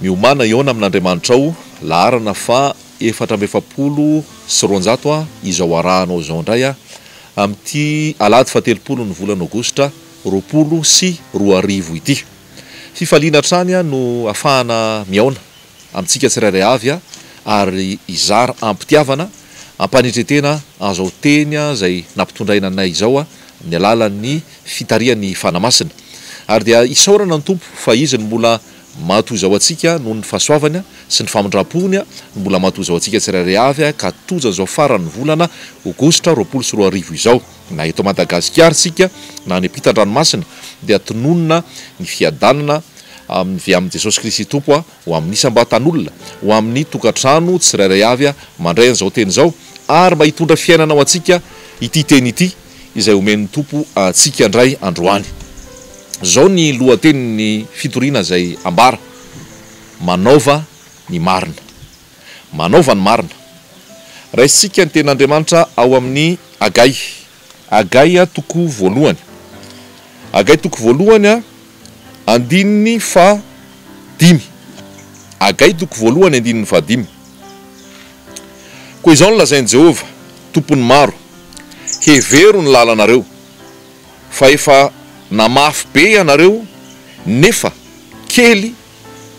Miomàna hihaona amin'Andriamanitrao, laharana faha efatra amby efapolo sy roanjato a, izao arahanao izao indray a, amin'ity alahady faha telopolin'ny volana aogositra roapolo sy roa arivo ity. Fifaliana hatrany a no afahana mihaona. amintsika tsirairay avy ary hizara am-pitiavana, am-panetren-tena azao teny izay nampitondraina anay izao amin'ny alalan'ny fitarihan'ny Fanahy Masina. Ary dia isaorana ny Tompo fa Izy no mbola matoa izao antsika noho ny fahasoavany sy ny famindram-pony no mbola matoa izao antsika tsirairay avy ka tojo an'izao faran'ny volana Aogositra roapolo sy roa arivo izao. Na eto Madagasikara isika na any ampitan-dranomasina dia tononina ny fiadanana avy amin'i Jesosy Kristy Tompo ho amin'ny isam-batan'olona, ho amin'ny tokantrano tsirairay avy mandray an'izao teny izao ary mba hitondra fiainana ho antsika ity teny ity izay omen'ny Tompo antsika indray androany. Izao ny lohatenin'ny fitoriana izay ambara, Manaova ny marina. Manaova ny marina. Raisintsika ny Tenin'Andriamanitra ao amin'ny Agay. Agay toko voalohany. Agay toko voalohany andininy faha dimy. Agay toko voalohany andininy faha dimy. Koa izao no lazain'i Jehovah, Tompon'ny maro, Hevero ny lalanareo, fa efa namafy be ianareo, nefa kely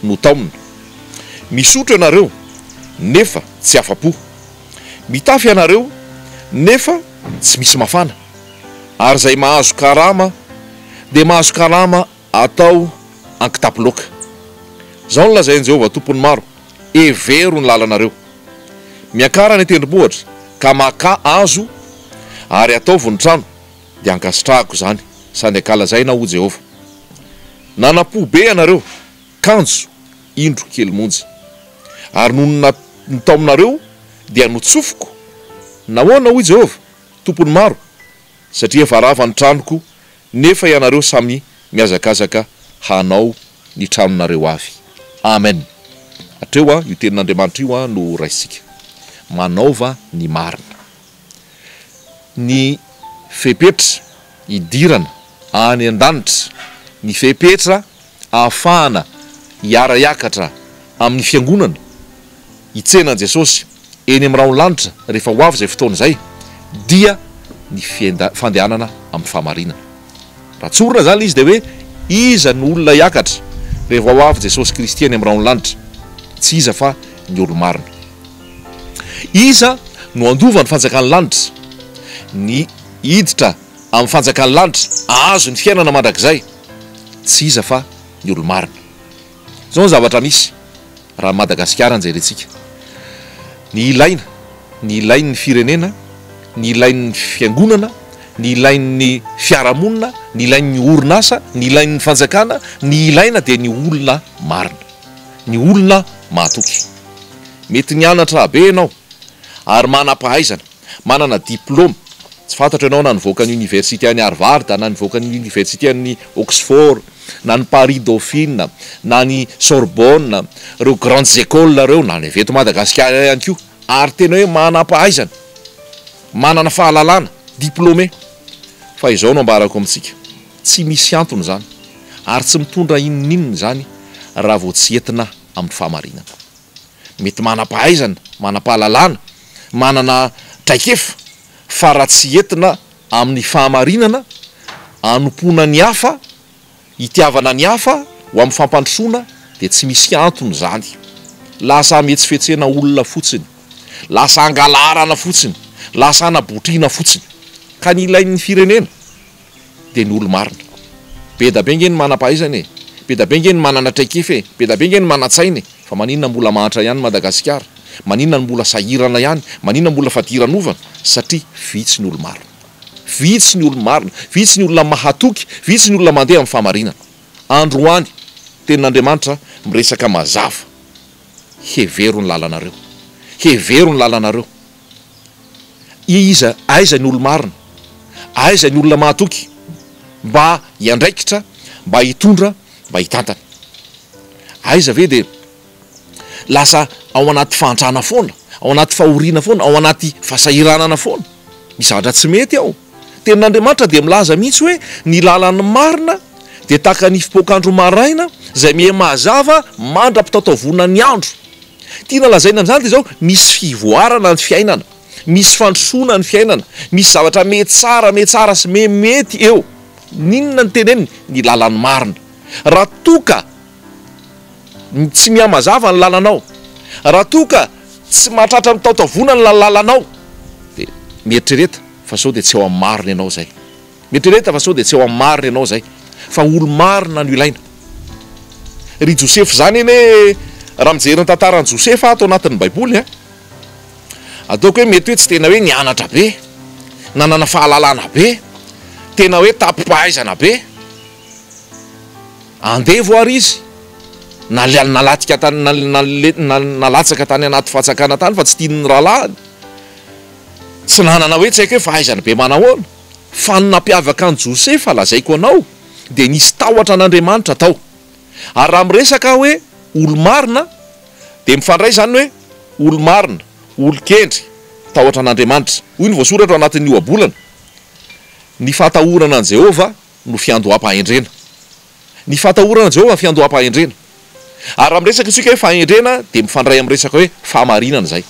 no taomina. Misotra ianareo nefa tsy afa-po. Mitafy ianareo nefa tsy misy mafana. Ary izay mahazo karama dia mahazo karama atao an-kitapo loaka. Izao no lazain'i Jehovah Tompon'ny Maro, Hevero ny lalanareo. Miakara ny tendrombohitra ka makà hazo ary ataovy ny trano. dia ankasitrahako izany, sady ankalazaina aho, hoy Jehovah. Nanampo be ianareo, kanjo, indro, kely monja. Ary nony na, ny taominareo dia notsofiko. Nahoana, hoy Jehovah, Tompon'ny maro? Satria efa rava ny tranoko, nefa ianareo samy mihazakazaka hanao ny tranonareo avy. Amen. Hatreo, io Tenin'Andriamanitra io no raisintsika. Manaova ny marina. ny fepetra hidirana any an-danitra, ny fepetra ahafahana hiara-hiakatra amin'ny Fiangonana, hitsena an'i Jesosy eny amin'ny rahon'ny lanitra rehefa ho avy izay fotoana izay, dia ny fandehanana amin'ny fahamarinana. Raha tsorina izany ilay izy dia hoe, iza no olona hiakatra rehefa ho avy Jesosy Kristy any amin'ny rahon'ny lanitra? Tsy iza fa ny olo-marina. Iza no handova ny fanjakan'ny lanitra? Ny hiditra amin'ny fanjakan'ny lanitra, hahazo ny fiainana mandrakizay, tsy iza fa ny olo-marina. Izao ny zavatra misy, raha an'i Madagasikara no jerentsika. Ny ilaina, ny ilain'ny firenena, ny ilain'ny fiangonana, ny ilain'ny fiarahamonina, ny ilain'ny orinasa, ny ilain'ny fanjakana, ny ilaina dia ny olona marina. ny olona mahatoky. Mety nianatra be ianao ary manam-pahaizana, manana diplaoma, tsy fantatro ianao na nivoaka ny Oniversite an'i Harvard na nivoaka ny Oniversite an'i Oxford na ny Paris Dauphine na ny Sorbonne, ireo grandes écoles ireo, na ny avy eto Madagasikara ihany koa, ary tena hoe manam-pahaizana, manana fahalalana, diplômé, fa izao no ambarako amintsika. Tsy misy antony izany ary tsy mitondra inoninona izany raha vao tsy entina amin'ny fahamarinana. Mety manam-pahaizana, manam-pahalalana, manana traikefa fa raha tsy entina amin'ny fahamarinana, anompoana ny hafa, itiavana ny hafa ho amin'ny fampandrosoana dia tsy misy antony izany. Lasa hametsifetsena olona fotsiny, lasa hangalarana fotsiny, lasa hanabotriana fotsiny. Ka ny ilain'ny firenena dia ny olo-marina. Bedabe ange ny manam-pahaizana e! Bedabe ange ny manana traikefa e! Bedabe ange ny manan-tsaina e! Fa maninona mbola mahantra ihany Madagasikara? Maninona no mbola sahirana ihany? Maninona mbola fadiranovana? Satria vitsy ny olo-marina. Vitsy ny olo-marina. Vitsy ny olona mahatoky. Vitsy ny olona mandeha amin'ny fahamarinana. Andro ho any, Tenin'Andriamanitra miresaka mazava. Hevero ny lalanareo. Hevero ny lalanareo. Ie iza aiza ny olo-marina? Aiza ny olona mahatoky mba hiandraikitra, mba hitondra, mba hitantana? Aiza ve dia lasa ao anaty fahantrana foana, ao anaty fahoriana foana, ao anaty fahasahiranana foana? Misy zavatra tsy mety ao. Tenin'Andriamanitra dia milaza mihitsy hoe ny lalan'ny marina dia tahaka ny fipoakandro maraina izay miha mazava mandra-pitataovona ny andro. Tiana lazaina amin'izany dia izao, misy fivoarana ny fiainana, misy fandrosoana ny fiainana, misy zavatra miha tsara, miha tsara sy miha mety eo. N'inona no teneniny? Ny lalan'ny marina. Raha toa ka ny tsy mihamazava ny lalanao, raha toa ka tsy mahatratra ny taotavona ny lalalanao dia mieritrereta fa sao dia tsy eo amin'ny marina ianao izay. Mieritrereta fa sao dia tsy eo amin'ny marina ianao izay fa olo-marina no ilaina. Ry Josefa izany anie raha mijery ny tantaran'i Josefa aho ato anatin'ny baiboly a, ataoko hoe mety hoe tsy tena hoe nianatra be, nanana fahalalana be, tena hoe tapi-pahaizana be, Andevo ary izy nalatika tany nalatsaka tany anaty fatsakana tany fa tsy tian'ny rahalahiny. Tsy nanana hoe tsy haiko hoe fahaizana be manahoana fa ny nampiavaka an'i Josefa lazaiko anao dia nisy tahotra an'Andriamanitra tao. Ary raha miresaka aho hoe olo-marina dia mifandray izany hoe olo-marina, olon-kendry, tahotra an'Andriamanitra. Hoy ny voasoratra ao anatin'ny ohabolana, Ny fahatahorana an'i Jehovah no fiandoham-pahendrena. Ny fahatahorana an'i Jehovah no fiandoham-pahendrena. Ary raha miresaka isika hoe fahendrena, dia mifandray amin'ny resaka hoe fahamarinana izay.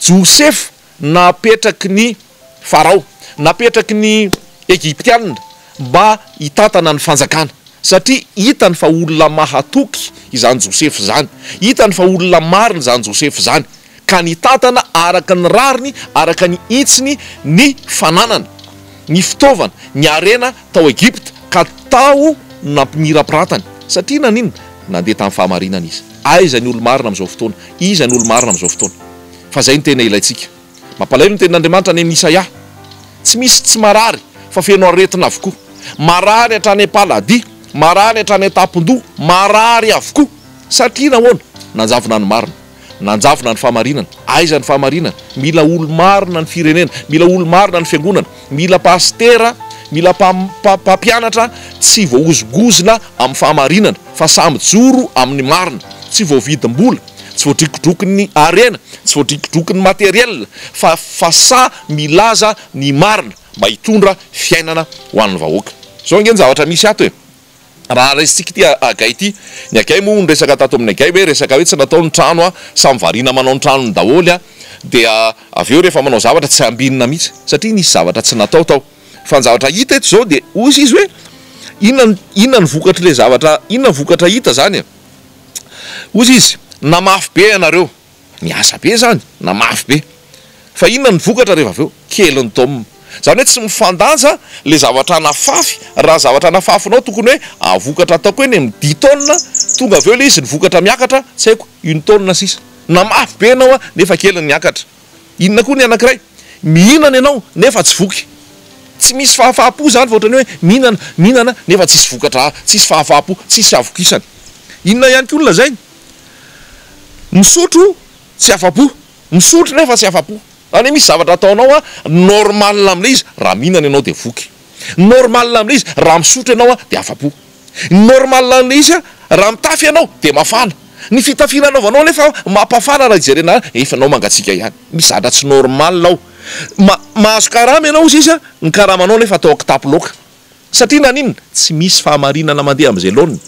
Josefa napetraky ny Farao, napetraky ny Egyptianina mba hitantana ny fanjakana, satria hitany fa olona mahatoky izany Josefa izany, hitany fa olona marina izany Josefa izany. ka nitantana araka ny rariny, araka ny hitsiny, ny fananana, ny fitaovana, ny harena tao Egypta, ka tao no nampimirapiratany. Satria naninona? Nandeha tamin'ny fahamarinana izy. Aiza ny olo-marina amin'izao fotoana? Iza ny olo-marina amin'izao fotoana? Fa izay no tena ilaintsika. Mampalahelo ny tenin'Andriamanitra any amin'ny Isaia. Tsy misy tsy marary, fa feno aretina avokoa. Marary hatrany am-paladi, marary hatrany an-tampon-doha, marary avokoa. Satria nahoana? Nanjavona ny marina. Nanjavona ny fahamarinana. Aiza ny fahamarinana? Mila olo-marina ny firenena. Mila olo-marina ny fiangonana. Mila pasitera, mila mpampianatra tsy voahozongozona amin'ny fahamarinana fa sahy mijoro amin'ny marina. Tsy voavidim-bola, tsy voadrokodrokon'ny harena, tsy voadrokodrokon'ny materiel fa fa sahy milaza ny marina mba hitondra fiainana ho an'ny vahoaka. Izao ange ny zavatra misy ato e! Raha raisintsika ity agay ity, ny agay moa hono resaka tato amin'ny agay hoe resaka hoe tsy natao ny trano a, samy variana manao ny tranony daholo a, dia avy eo rehefa manao zavatra tsy ambinina mihitsy satria nisy zavatra tsy natao tao, fa ny zavatra hita eto izao dia hoy izy hoe inona inona ny vokatr'ilay zavatra inona ny vokatra hita izany e? hoy izy namafy be ianareo. Miasa be zany na mafy be. Fa inona ny vokatra rehefa avy eo? Kely ny tom. Zany hoe tsy mifandanja le zavatra anafafy, raha zavatra anafafinao tokony hoe avokatra ataoko hoe ny dix tonne tonga avy eo le izy ny vokatra miakatra tsy haiko une tonne sisa. Na mafy be enao nefa kely ny miakatra. Inona koa ny anakiray? Mihinana enao nefa tsy voky. Tsy misy fahafahapo zany fa ohatrany hoe mihinana, mihinana nefa tsisy vokatra, tsisy fahafahapo, tsisy havokisana. Inona ihany koa ny lazainy? Misotro tsy afa-po. Misotro nefa tsy afa-po. Zany hoe misy zavatra ataonao a, normal amin'ilay izy, raha mihinana ianao dia voky. Normal amin'ilay izy, raha misotro ianao a, dia afa-po. Normal amin'ilay izy a, raha mitafy ianao dia mafana. Ny fitafiana anaovanao anefa mampafana raha jerena efa ianao mangatsiaka ihany. Misy zavatra tsy normal ao. Ma- mahazo karama ianao hoy sisa, ny karamanao anefa atao an-kitapo loaka. Satria naninona? Tsy misy fahamarinana mandeha amin'izay laoniny.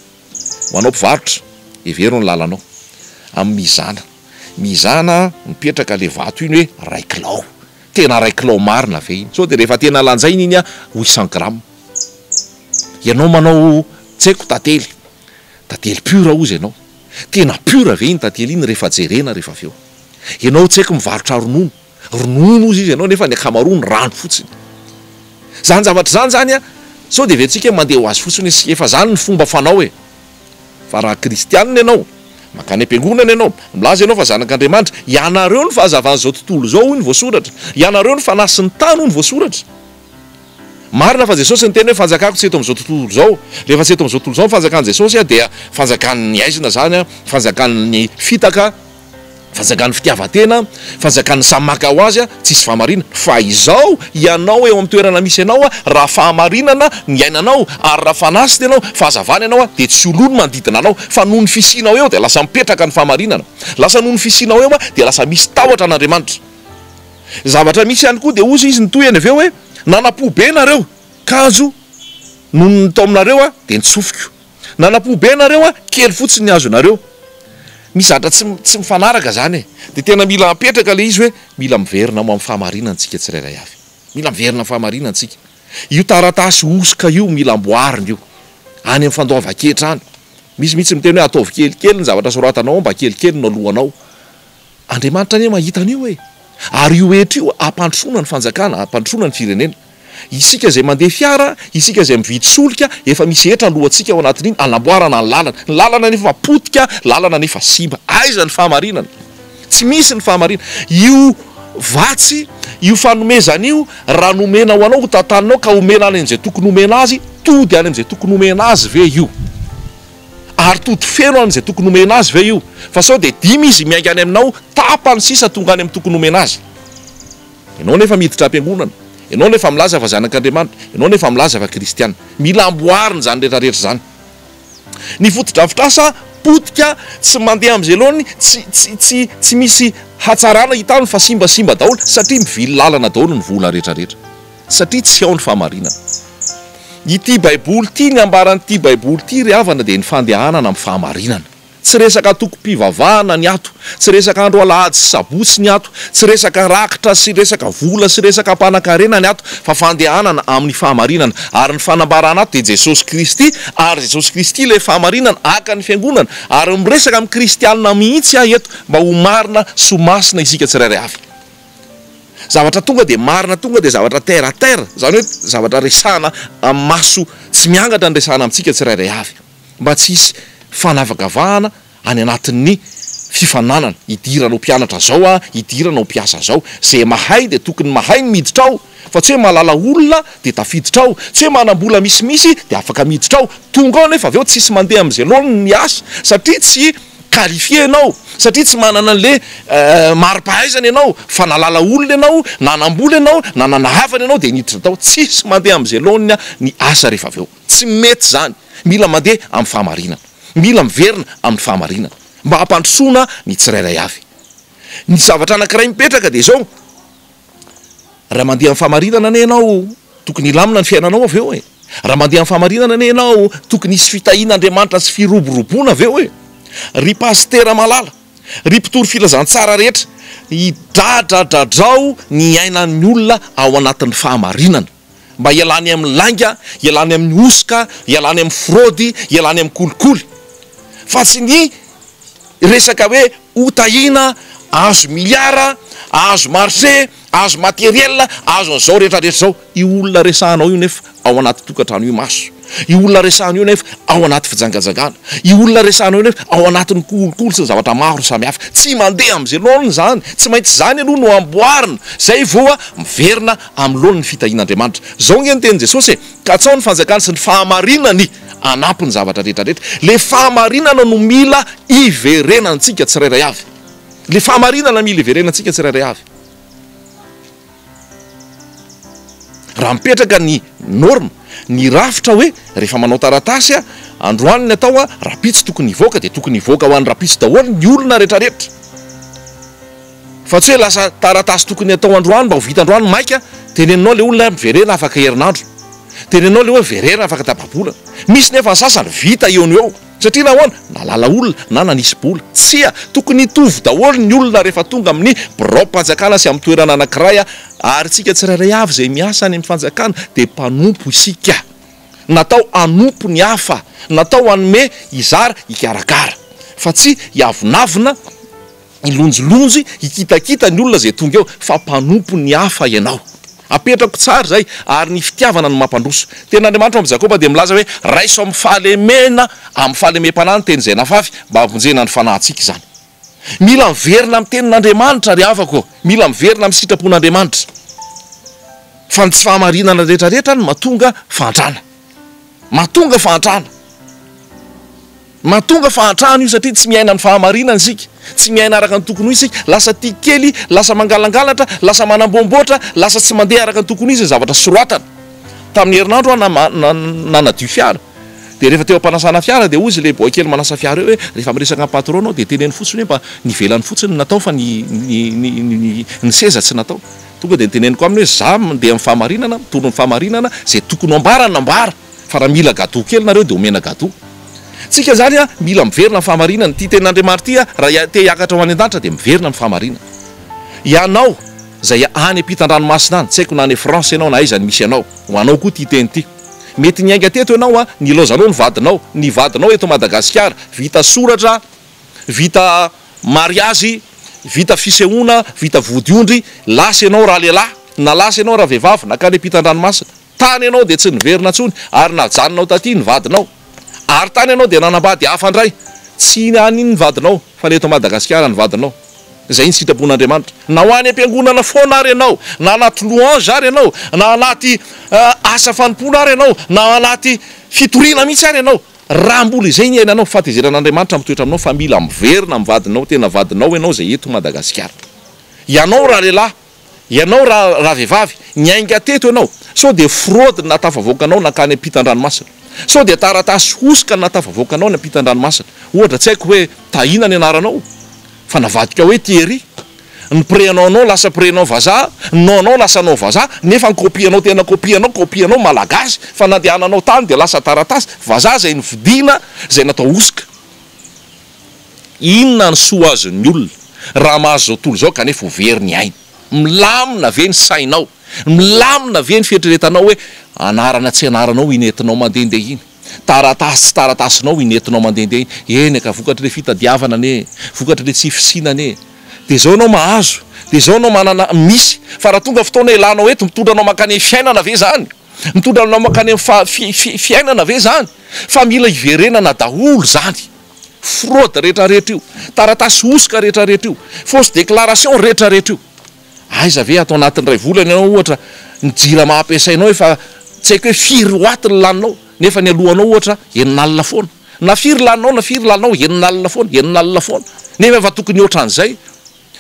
Ho anao mpivarotra, hevero ny lalanao. Amin'ny mizana. Mizana, mipetraka ilay vato iny hoe iray kilao. Tena iray kilao marina ve iny? Sao dia rehefa tena lanjaina iny huit cent grammes. Ianao manao tsy haiko tantely. Tantely pure hozy ianao. Tena pure ve iny tantely iny rehefa jerena rehefa avy eo? Ianao tsy haiko mivarotra ronono. Ronono hozy izy ianao nefa ny ankamaroany rano fotsiny. Zany zavatra zany zany a sao de eventsika mande ho azy fotsiny izy efa zany ny fomba fanao e! Fa raha kristianina ianao, mankany am-piangonana ianao, milaza ianao fa zanak'Andriamanitra, ianareo ny fahazavan'izao tontolo izao hoy ny voasoratra, ianareo ny fanahy sy ny tany hoy ny voasoratra. Marina fa Jesosy niteny hoe fanjakako tsy eto amin'izao tontolo izao, rehefa tsy eto amin'izao tontolo izao ny fanjakan'i Jesosy a dia fanjakan'ny aizina zany a, fanjakan'ny fitaka, Fanjakan'ny fitiavan-tena, fanjakan'ny samy maka ho azy, tsisy fahamarinana. Fa izao, ianao eo amin'ny toerana misy anao, raha fahamarinana ny iainanao, ary raha fanahy ianao, fahazavana ianao, dia tsy ho lo ny manodidina anao. Fa noho ny fisianao eo dia lasa mipetraka ny fahamarinana. Lasa noho ny fisianao eo dia lasa misy tahotra an'Andriamanitra. Zavatra misy ihany koa dia hozy izy nitohiny avy eo hoe, Nanampobe nareo, kanjo nony ny taominareo dia nitsofiko. Nanapo be nareo a! Kely fotsiny ny azonareo. Misy zavatra tsy tsy mifanaraka zany e! De tena mila apetraka le izy hoe mila miverina ho am fahamarinana tsika tsirairay avy. Mila miverina am fahamarinana tsika. Io taratasy hosoka io mila amboarina io. Any am fandoavan-ketra any. Misy mihitsy miteny hoe ataovy kelikely ny zavatra soratanao ao mba kelikely no alohanao. Andriamanitra anie mahita an'io e! Ary io hetra io hampandrosoana ny fanjakana, hampandrosoana ny firenena. Isika izay mandeha fiara, isika izay mividy solika, efa misy hetra alohantsika ao anatin'iny hanamboarana ny lalana. Ny lalana anefa efa potika, lalana anefa simba. Aiza ny fahamarinana? Tsy misy ny fahamarinana. Io vatsy, io fanomezana io, raha nomena ho anao, hotantaninao ka omena any amin'izay tokony homena azy, tody any amin'izay tokony homena azy ve io? Ary tody feno amin'izay tokony homena azy ve io? Fa sao dia dimy izy miainga any aminao, tapany sisa tonga any amin'ny tokony homena azy? Ianao nefa miditra am-piangonana, ianao nefa milaza fa zanak'Andriamanitra, ianao nefa milaza fa kristiana. Mila amboarina izany rehetra rehetra izany. Ny fotodrafitrasa potika, tsy mandeha amin'izay laoniny, tsy, tsy, tsy, tsy misy hatsarana hitany fa simbasimba daholo satria mivily lalana daholo ny vola rehetra rehetra. Satria tsy ao ny fahamarinana. Ity Baiboly ity, ny ambaran'ity Baiboly ity ry havana dia ny fandehanana amin'ny fahamarinana. Tsy resaka antokom-pivavahana ny ato, tsy resaka andro alahady sy sabotsy ny ato, tsy resaka rakitra sy resaka vola sy resaka mpanankarena ny ato fa fandehanana amin'ny fahamarinana. Ary ny fanambarana ato dia Jesosy Kristy ary Jesosy Kristy ilay fahamarinana haka ny fiangonana ary miresaka amin'ny kristianina mihitsy aho eto mba ho marina sy ho masina isika tsirairay avy. Zavatra tonga dia marina tonga dia zavatra terre à terre, izany hoe zavatra resahana amin'ny maso tsy miangatra ny resahana amintsika tsirairay avy mba tsy hisy fanavakavahana any anatin'ny fifaninanana, hidirana ho mpianatra izao aho, hidirana ho mpiasa izao. Izay mahay dia tokony mahay ny miditra ao fa tsy hoe mahalala olona dia tafiditra ao, tsy hoe manam-bola misimisy dia afaka miditra ao, tonga ao nefa avy eo tsisy mandeha amin'izay laoniny ny asa satria tsy qualifier ianao satria tsy manana anle maripahaizana ianao fa nalala olona ianao nanambola ianao na nana havana ianao dia niditra tao tsisy mandeha amze laoniny ny asa rehefa avy eo tsy mety zany mila mandeha am fahamarinana mila miverina aminy fahamarinana mba hampandrosoana ny tsirairay avy ny zavatra anakiray mipetraka dia zao raha mandeha am fahamarinana anie ianao Tokony hilamina ny fiainanao avy eo e! Raha mandeha amin'ny fahamarinana anie ianao, tokony hisy fitahian'Andriamanitra sy firoboroboana avy eo e! Ry Pasitera malala, ry mpitory filazantsara rehetra, hidradradradrao ny ainan'ny olona ao anatin'ny fahamarinana, mba hialany amin'ny lainga, hialany amin'ny hosoka, hialany amin'ny fraude, hialany amin'ny kolikoly, fa tsy ny resaka hoe ho tahiana, ahazo milliards, ahazo marché, azo materiel azo an'izao rehetra rehetra izao io olona resahanao io nefa ao anaty tokantrano io maso io olona resahanao io nefa ao anaty fijangajagana io olona resahanao io nefa ao anatin'ny kolikoly sy ny zavatra maro samihafa tsy mandeha amin'izay laoniny izany tsy maintsy izany aloha no amboarina izay voa miverina amin'ny laoniny fitahian'Andriamanitra izao nge ny tenin'i Jesosy e katsao ny fanjakany sy ny fahamarinany anampy ny zavatra rehetra rehetra le fahamarinana no mila iverenantsika tsirairay avy Ilay fahamarinana mila iverenantsika tsirairay avy. Raha mipetraka ny norme, ny rafitra hoe rehefa manao taratasy aho, androany ny atao aho, rahampitso tokony hivoaka dia tokony hivoaka ho an'ny rahampitso daholo ny olona rehetrarehetra. Fa tsy hoe lasa taratasy tokony atao androany mba ho vita androany, maika teneninao ilay olona hoe miverena afaka herinandro. Teneninao ilay hoe verena afaka tapa-bolana. Misy nefa ny sasany vita eo no eo. Satria nahoana? Nalala olona na nanisy bola? Tsia! Tokony hitovy daholo ny olona rehefa tonga amin'ny biraom-panjakana sy amin'ny toerana anankiray ary isika tsirairay avy izay miasa any amin'ny fanjakana dia mpanompo isika. Natao hanompo ny hafa, natao hanome, hizara, hikarakara fa tsy hiavonavona. Hilonjilonjy, hikitakita ny olona izay tonga eo fa mpanompo ny hafa ianao. Apetrako tsara izay ary ny fitiavana no mampandroso. Tenin'Andriamanitra ao amin'ny Jakoba dia milaza hoe, Raiso amin'ny fahalemena amin'ny fahalemem-panahy ny teny izay nafafy, mba hampivonjena ny fanahintsika izany. Mila miverina amin'ny Tenin'Andriamanitra ry havako ô! Mila miverina amin'ny sitrapon'Andriamanitra. Fa ny tsy fahamarinana rehetra rehetra no mahatonga fahantrana. Mahatonga fahantrana. Mahatonga fahantrana io satria tsy miaina ny fahamarinana isika, tsy miaina araka ny tokony ho izy isika, lasa tia kely, lasa mangalangalatra, lasa manamboamboatra, lasa tsy mandeha araka ny tokony ho izy ny zavatra soratana. Tamin'ny herinandro aho na-na nanadio fiara dia rehefa teo am-panasana fiara dia hoy izy ilay boy kely manasa fiara eo hoe rehefa miresaka amin'ny patron-nao dia teneno fotsiny hoe mba nivelany fotsiny ny natao fa ny-ny-ny-ny-ny ny seza tsy natao. Tonga dia noteneniko aminy hoe za mandeha amin'ny fahamarinana, mitondra ny fahamarinana, izay tokony ho ambarana ambara. Fa raha mila gateau kely nareo dia omena gateau. Tsika zany a mila miverina am fahamarinana. Ty tena Andriamanitry ty a raha te hiakatra ho any andanitra dia miverina am fahamarinana. Ianao zay any ampitan dranomasina any, tsy haiko na any France ianao na aiza ny misy anao. Ho anao koa ty teny ty. Mety niainga teto ianao a, nilaozanao ny vadinao, ny vadinao eto Madagasikara, vita soratra, vita mariazy, vita fisehoana, vita vody ondry, lasa ianao raha lehilahy, na lasa ianao raha vehivavy, nankany ampitan dranomasina. Tany ianao dia tsy niverina intsony ary najanonao taty ny vadinao. Ary tany ianao dia nanambady hafa indray. Tsy any ny vadinao fa ny eto Madagasikara ny vadinao. Izay ny sitrapon'Andriamanitra. Na ho any am-piangonana foana ary ianao, na anaty louange ary ianao, na anaty asa fanompoana ary ianao, na anaty fitoriana mihitsy ary ianao, raha mbola izay ny iainanao, fahatezeran'Andriamanitra mitoetra aminao fa mila miverina amin'ny vadinao, tena vadinao ianao izay eto Madagasikara. Ianao ralehilahy. Ianao ra ravehivavy, niainga teto ianao, sao dia fraude no nahatafavoaka anao nankany ampitan-dranomasina? Sao dia taratasy hosoka no nahatafavoaka anao any ampitan-dranomasina? Ohatra, tsy haiko hoe Tahiana ny anaranao, fa navadika hoe Thierry. Ny prénom-nao lasa prénom vazaha, ny nom-nao lasa nom vazaha, nefa ny copie-nao tena copie-nao, copie-nao Malagasy, fa nandehananao tany dia lasa taratasy vazaha izay novidiana, izay natao hosoka. Inona ny soa azon'ny olona raha mahazo izao tontolo izao kanefa ho very ny ainy? Milamina ve ny sainao? Milamina ve ny fieritreretanao hoe anarana tsy anaranao iny entinao mandehandeha iny? Taratasy tsy taratasinao iny entinao mandehandeha iny? Eny ka, vokatr'ilay fitadiavana anie e! Vokatr'ilay tsy fisiana anie e! Dia izao ianao mahazo, dia izao ianao manana, misy. Fa raha tonga fotoana ilanao eto, mitondra anao mankany amin'ny fiainana ve izany? Mitondra anao mankany amin'ny fa, fi, fi, fiainana ve izany? Fa mila hiverenana daholo izany. fraude retraretra io, taratasy hosoka retraretra io, fausse déclaration retraretra io. Aiza ve ato anatin iray volana ianao ohatra ny jirama ampiasainao efa tsy haiko hoe firy watt ny laninao nefa ny alohanao ohatra enina alina foana na firy laninao na firy laninao enina alina foana enina alina foana nefa efa tokony otran'izay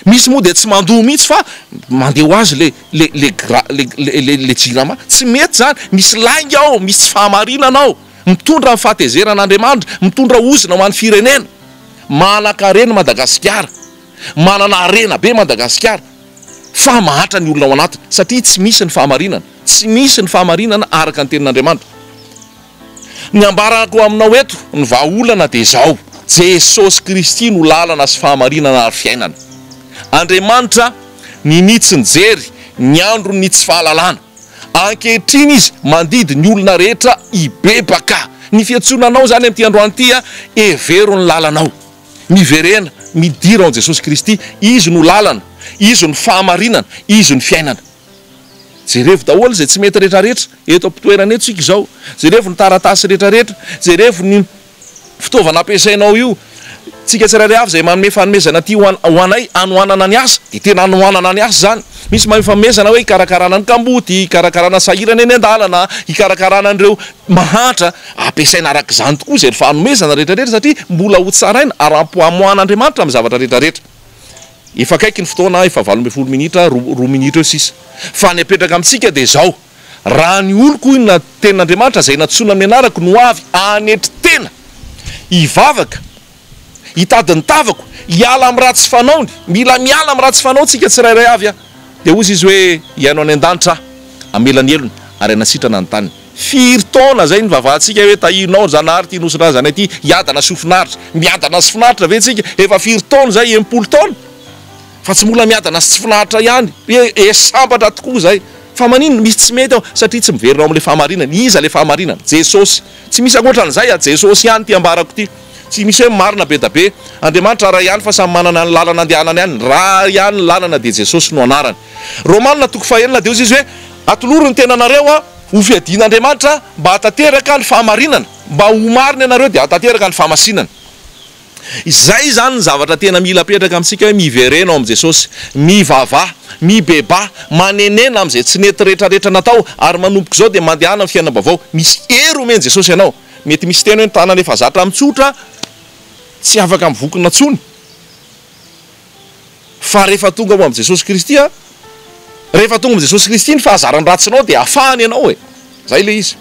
Misy moa dia tsy mandoa mihitsy fa mandeha ho azy le le le gra le le le le jirama. Tsy mety zany, misy lainga ao, misy tsy fahamarinana ao. Mitondra ny fahatezerana Andriamanitra, mitondra ozona ho an'ny firenena. Manankarena Madagasikara, manana harena be Madagasikara fa mahatra ny olona ao anatiny satria tsy misy ny fahamarinana, tsy misy ny fahamarinana araka ny tenin'Andriamanitra. Ny ambarako aminao eto, ny vahaolana dia izao, Jesosy Kristy no lalana sy fahamarinana ary fiainana. Andriamanitra ninitsy ny jery, ny andro ny tsy fahalalana. Ankehitriny Izy mandidy ny olona rehetra hibebaka. Ny fiantsoana anao izany amin'ity androany ity, Hevero ny lalanao. Miverena, midira ao amin'i Jesosy Kristy. Izy no lalana, Izy no fahamarinana, Izy no fiainana. Jerevo daholo izay tsy mety retraretra, eto am-pitoerana eto isika izao. Jerevo ny taratasy retraretra, jerevo ny fitaovana ampiasainao io. Tsika tsirairay avy izay manome fanomezana ity ho anay hanohanana ny asa dia tena hanohanana ny asa izany. Misy manome fanomezana hoe hikarakarana ny kamboty, hikarakarana sahirana eny an-dalana, hikarakarana an'ireo mahantra. Ampiasaina araka izany tokoa izay fanomezana retraretra satria mbola ho tsaraina ara-pamoahan'Andriamanitra amin'ny zavatra retraretra. Efa akaiky ny fotoana, efa valo ambin'ny folo minitra, roa minitra eo sisa. Fa ny apetraka amintsika dia izao, Raha ny oloko, hoy ny tenin'Andriamanitra, izay nantsoina amin'ny anarako, no avy hanetry tena, hivavaka, hitady ny tavako, hiala amin'ny ratsy fanaony, mila miala amin'ny ratsy fanao tsika tsirairay avy, dia hozy Izy hoe, Hihaino any an-danitra Aho, hamela ny helony, ary hanasitrana ny taniny. Firy taona zay nivavahantsika hoe tahirinao ry Zanahary ity Nosy Razana ity, hiadana sy ho finaritra. Miadana sy finaritra ve tsika? Efa firy taona zay? Enimpolo taona? Fa tsy mbola miadana sy tsy finaritra ihany. He sambatra tokoa zay. Fa maninona? Misy tsy mety ao? Satria tsy miverina ao amin'ilay fahamarinana. Iza ilay fahamarinana? Jesosy. Tsy misy ankoatran'izay a! Jesosy ihany ity ambarako ity. Tsy misy hoe marina be da be. Andriamanitra ray ihany fa samy manana ny lalana andehanany any. Ray ihany ny lalana dia Jesosy no anarany. Romana toko fahenina dia hozy izy hoe, Atolory ny tenanareo a! Hofiadian'Andriamanitra mba hahatanteraka ny fahamarinana, mba ho marina ianareo dia hahatanteraka ny fahamasinana. Izay izany ny zavatra tena mila apetraka amintsika hoe miverena ao amin'i Jesosy, mivavaha, mibebaha, manenena amin'izay tsy nety rehetrarehetra natao ary manomboka izao dia mandehana amin'ny fiainam-baovao. Misy hery omen'i Jesosy anao. Mety misy teny hoe ny tanana efa zatra mitsotra tsy afaka mivokona intsony. fa rehefa tonga ao amin'i Jesosy Kristy a, rehefa tonga amin'i Jesosy Kristy ny fahazaran-dratsinao dia afahany ianao e, zay le izy.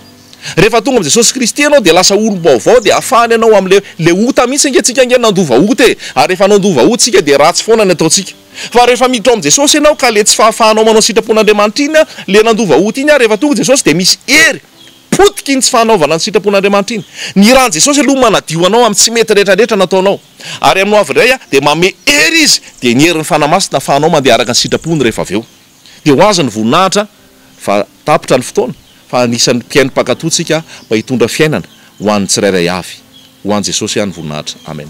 Rehefa tonga amin'i Jesosy Kristy ianao dia lasa olom-baovao, dia afahany ianao amin'le le ota mihitsy ange tsika ange nandova ota e, ary rehefa nandova ota tsika dia ratsy foana ny ataontsika. Fa rehefa miditra ao amin'i Jesosy ianao ka le tsy fahafahanao manao ny sitrapon'Andriamanitra iny a, le nandova ota iny ary rehefa tonga i Jesosy dia misy hery Potika iny tsy fanaovana ny sitrapon'Andriamanitra iny. Ny ran'i Jesosy aloha manadio anao amin'ny tsy mety rehetra rehetra nataonao. Ary amin'ny hoavy indray dia manome hery Izy, dia ny herin'ny Fanahy Masina afahanao mandeha araka ny sitrapony rehefa avy eo. Dia ho azy ny voninahitra fa tapitra ny fotoana fa anisan'ny mpihaino mpankato tsika mba hitondra fiainana ho an'ny tsirairay avy. Ho an'i Jesosy ihany ny voninahitra. Amen.